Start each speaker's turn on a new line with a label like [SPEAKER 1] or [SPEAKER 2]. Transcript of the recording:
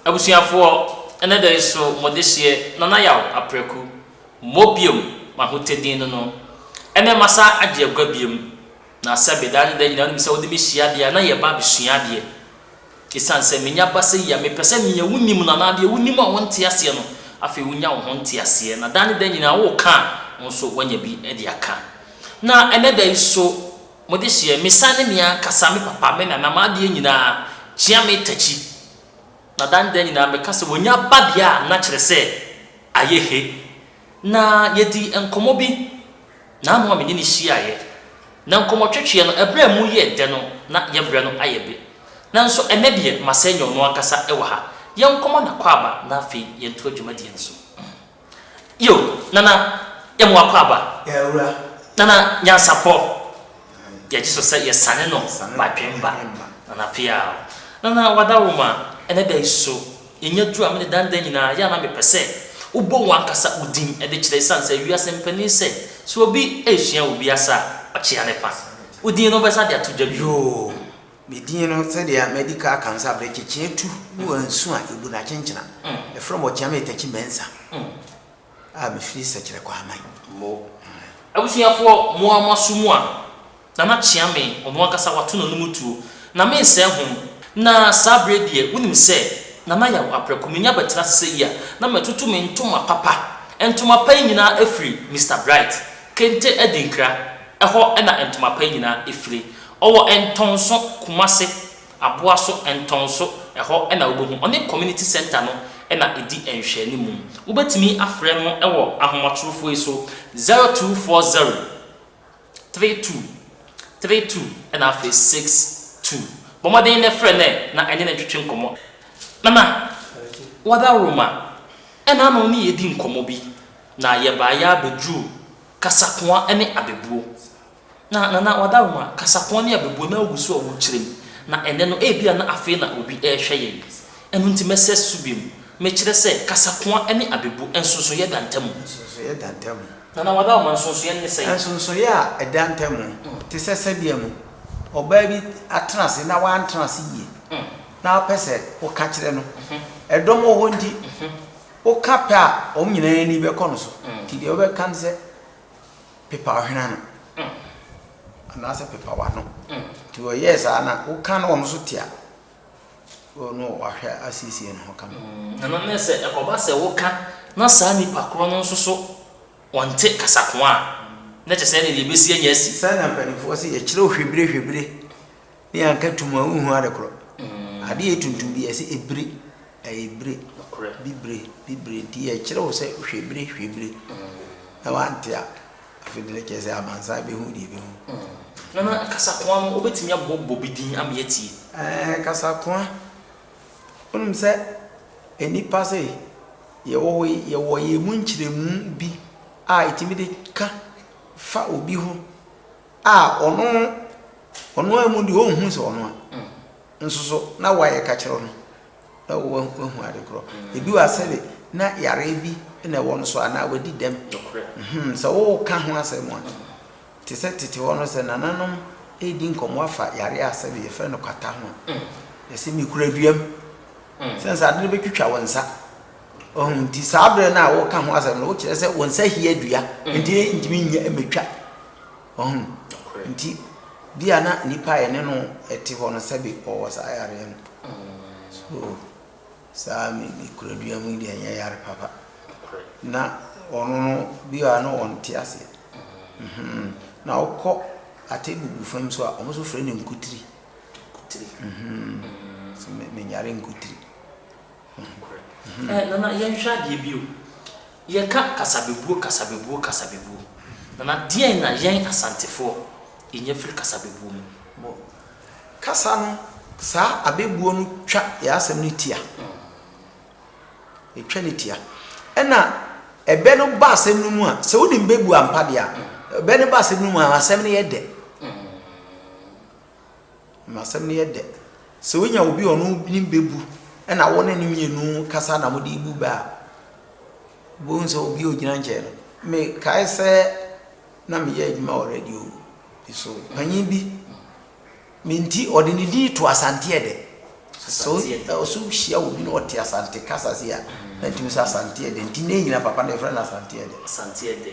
[SPEAKER 1] Abusuafoɔ, ɛnɛ da yi so mo dehyeɛ Nana Yaw Apraku mmɔ biom M'ahotɛ din no no Ɛnɛ masa agye agua biom Na sɛbe daa ne da nyina wonim sɛ wode me hyia deɛ a na yɛba abɛsua adeɛ. Esiane sɛ manya abasa yi a, mepɛ sɛ nea wunim no anaa deɛ wunim a wonte aseɛ no, afei wunya wo ho nteaseɛ, na da ne da nyinaa woreka a, wo nso woanya bi de aka. Na ɛnnɛ da yi so, mo dehyeɛ, mesiane ne me ankasa, me papa, me nana, m'adeɛ nyinaa, kyea me takyi. Na da ne da nyinaa meka sɛ, wɔanya babea a na kyerɛ sɛ ayɛ he. na yedii nkɔmmɔ bi. N'ano a me ne no hyiaeɛ, na nkɔmmɔtwetweɛ no, ɛberɛ a emu yɛɛ dɛ no, na yɛwerɛ no ayɛ be. Nanso ɛnnɛ deɛ, masɛe nyɛ ɔno ankasa wɔ ha. Yɛnkɔma no akwaaba na afei yɛntoa dwumadie no so. Yo, Nana, yɛma wo akwaaba.
[SPEAKER 2] Nana, Nyansapɔ,
[SPEAKER 1] yɛgye so sɛ yɛsane no badwemba. Nana, Peaw. Nana, Wadaworo ma ɛnnɛ da yi so. Nya du a mede dan da nyinaa yɛ a na mepɛ sɛ wobɔ wo ankasa wo din de kyerɛ esiane sɛ wiase mpanin sɛ sɛ obi resua obi asa a ɔkyea ne pa wo din no wobɛsa de ato dwa bio.
[SPEAKER 2] Me din no sɛdeɛ madi ka aka no sɛ abrɛkyekye atu ne wansu a ɛbu no akyenkyena ɛfrɛ me ɔkyea me Takyi Mensah. A mefiri sɛkyerɛ kɔ aman mo.
[SPEAKER 1] Abusuafoɔ mo ara mo aso mu a. Nana Kyeame ɔno ankasa wato n'anom tuo, na mensɛe ho. Na saa berɛ deɛ wonim sɛ Nana Yaw aprɛko menya bɛtena ase sɛ yi a na matutu me ntoma papa. Ntoma pa yi nyinaa afiri Mister Bright, Kente Adinkra, hɔ na ntoma pa yi nyinaa fire. Ɔwɔ Ntɔnso, Kumase, Aboa so ntɔn so ɛhɔ na wobɛhu. Ɔne Community Centre no na ɛdi nhwɛanimu. Wobɛtumi afrɛ no wɔ ahomatorofoɔ yi so, 0240 32 32 ɛna afei 62. Bɔ mmɔden na frɛ no na ɛne no ntwetwe nkɔmmɔ. Nana, woadaworo ma ɛna ano ne yɛdi nkɔmmɔ bi na yɛbaeɛ ara bɛduruu kasakoa ne abɛbuo. Na, na, na wɔadaroma, kasapɔn ne abebuo na agu so a wɔrekyerɛ mu. Na ɛnnɛ no, ebia na afei na obi rehwɛ yɛn. Ɛno nti mɛsrɛ susu bio. Mekyerɛ sɛ, kasakoa ne abebuo, nsonsonoeɛ da ntam. Nsonsonoeɛ da ntam. Na, na wɔadaroma, nsonsonoeɛ no ne sɛn? Nsonsonoeɛ a ɛda
[SPEAKER 2] ntam, te sɛ sɛdeɛ no, ɔbaa bi atena ase na wantena ase yie, na wopɛ sɛ woka kyerɛ no. Ɛdɔm wɔ hɔ nti, woka pɛ a, wɔn nyinaa ani bɛkɔ no so. Nti deɛ wobɛka ne sɛ. pepa ɔhwene ano anaasɛ pepa w'ano nti ɔyɛɛ saa na woka na ɔno nso te a ɔno wahwɛ asiesie ne ho ka no ɛno ne sɛ
[SPEAKER 1] ɛkɔba sɛ woka na saa nipa korɔ no nso so ɔnte kasakoa a na kyɛ sɛ ɛne deɛ ɛbɛsi anya asi sɛ na mpanimfoɔ sɛ
[SPEAKER 2] yɛkyerɛ hwebire hwebire Ne anka tum a wonhu ade korɔ. Adeɛ yɛ tuntum bi ɛsɛ ebire ɛyɛ ebire bibire bibire nti ɛkyerɛ wo sɛ hwɛ bire hwɛ bire na wante a afei deɛ kyerɛ sɛ amansan bɛhu deɛ ɛbɛhu. Nana
[SPEAKER 1] kasakoa no wobɛtumi abɔ bɔ bi din ama yɛatie. Ɛɛ kasakoa
[SPEAKER 2] wonim sɛ nnipa sɛ yɛwɔ hɔ yi yɛwɔ yɛn mu nkyerɛmu bi a ɛtumi de ka fa obi ho A ɔno ɔno ara mu deɛ ɔnhu sɛ ɔno a nso so na wayɛ ka kyerɛ no na wahu ade korɔ ebi wɔ asɛ de na yareɛ bi na ɛwɔ no so anaa wadi dɛm sɛ woka ho asɛm a te sɛ tete hɔ no sɛ nananom ɛredi nkɔmmɔ afa yareɛ a sɛdeɛ yɛfrɛ no kwata ho a yɛsɛ mekura duam sɛ nsa ade no bɛtwitwa wo nsa ɔho nti saa berɛ no a woka ho asɛm no wokyerɛ sɛ wo nsa hia dua nti ntumi nyɛ mɛtwa Wahu? Nti, bia na nipa a yɛne no te hɔ no sɛbe ɔwɔ saa yareɛ no. So, saa me me kuradua mu yi deɛ ɛnyɛ yare papa. Na ɔno no, bia na ɔnte aseɛ. Mhm. Na wokɔ Atebubu fam so a, wɔn nso frɛ no nkutiri. Nkutiri. Mhm. So, me menyare nkutiri. Nokorɛ.
[SPEAKER 1] Ɛɛ, Nana, yɛnhwɛ adeɛ bio. Yɛka kasabebuo kasabebuo kasabebuo nana deɛn na yɛn asantefoɔ nya firi kasabebuo mu? Bɔ kasa
[SPEAKER 2] no saa abɛbuo no twa yɛ asɛm no tia ɛtwa no tia ɛna ɛbɛ no ba asɛm no mu a sɛ wonim bɛbuo ampa deɛ a ɛbɛ no ba asɛm no mu a asɛm no yɛ dɛ Asɛm no yɛ dɛ. Sɛ wonya obi a ɔno nim bɛ bu na wo ne no mmienu kasa na mo de bu bɛ a, wobɛhu sɛ obi a ɔgyina nkyɛn no. Me kae sɛ na me yɛ adwuma wɔ radio bi so, panyin bi, me nti ɔde ne din to Asante Ɛdɛ. So ɔso hyia obi na ɔte Asante kasa sei a, na ntumi sɛ Asante Ɛdɛ. Nti nnɛ nyina papa no yɛfrɛ no Asante Ɛdɛ. Asante Ɛdɛ.